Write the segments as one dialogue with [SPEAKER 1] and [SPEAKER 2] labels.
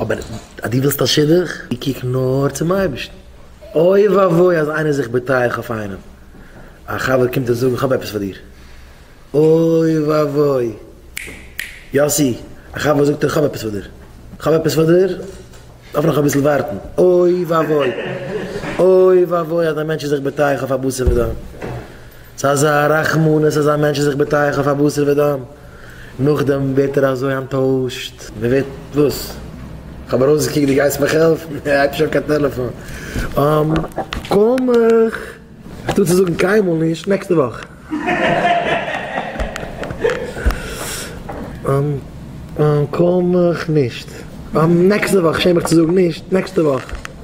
[SPEAKER 1] אבער אז דו ווילסט א שידוך, קוק נאר צום אייבערשטן. אוי ואבוי אז איינער איז זיך בוטח אויף איינעם, א חבר קומט אים זאגן איך האב עפעס פאר דיר, אוי ואבוי, יאסי, א חבר זאגט דיר איך האב עפעס פאר דיר, איך האב עפעס פאר דיר, דארף נאך אביסל ווארטן, אוי ואבוי, אוי ואבוי אז א מענטש איז זיך בוטח אויף א בשר ודם. ס'איז אזא רחמנות אז א מענטש איז זיך בטח אויף א בשר ודם, נאכדעם ווערט ער אזוי אנטוישט, מ'ווערט וואס? כ'האב ארויסגעקוקט דו גייסט מיך העלפן, הייב נישט אן קיין טעלעפאן, אממ קום איך טוה צו זאגן קיינמאל נישט, נעקסטע וואך. אממ קום איך נישט, אממ נעקסטע וואך, שעם מיך צו זאגן נישט, נעקסטע וואך.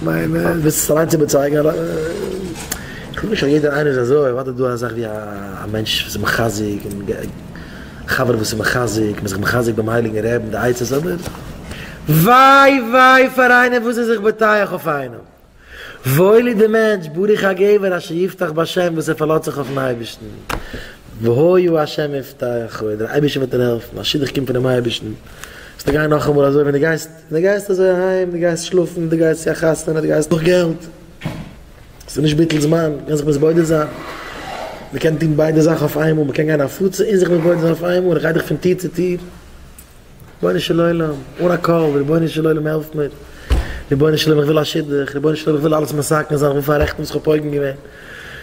[SPEAKER 1] כ'מיין ווילסט עס אליינס איבערצייגן אדער? כ'גלייב נישט אז יעדער איינער איז אזוי, אוודאי איז דא א זאך ווי א מענטש וואס איז מחזק און א חבר וואס איז מחזק, מ'איז זיך מחזק ביים הייליגן רעב און די עצות, אבער וויי וויי פאר איינער וואס איז זיך בוטח אויף איינעם, וואויל איז די מענטש, ברוך הגבר אשר יבטח בהשם וואס ער פארלאזט זיך אויפן אייבערשטן, והיה ה' מבטחו, דער אייבערשטער וועט דיר העלפן, א שידוך קומט פונעם אייבערשטן, וועסטו גיין נאכאמאל אזוי ווען דו גייסט. דו גייסט אזוי אהיים, דו גייסט שלאפן, דו גייסט צו א חתונה, דו גייסט נאך געלט, ס'איז נישט ביטול זמן, מ'קען זיך מתבודד זיין, מ'קען טון ביידע זאכן אויף איינמאל, מ'קען גיין הפצה און זיך מתבודד זיין אויף איינמאל, איך גיי דאך פון טיר צו טיר, רבונו של עולם, אן א קול, רבונו של עולם העלף מיר, רבונו של עולם איך וויל א שידוך, רבונו של עולם איך וויל אלעס מסכם זיין, איך וויל פאררעכטן וואס כ'האב פוגם געווען.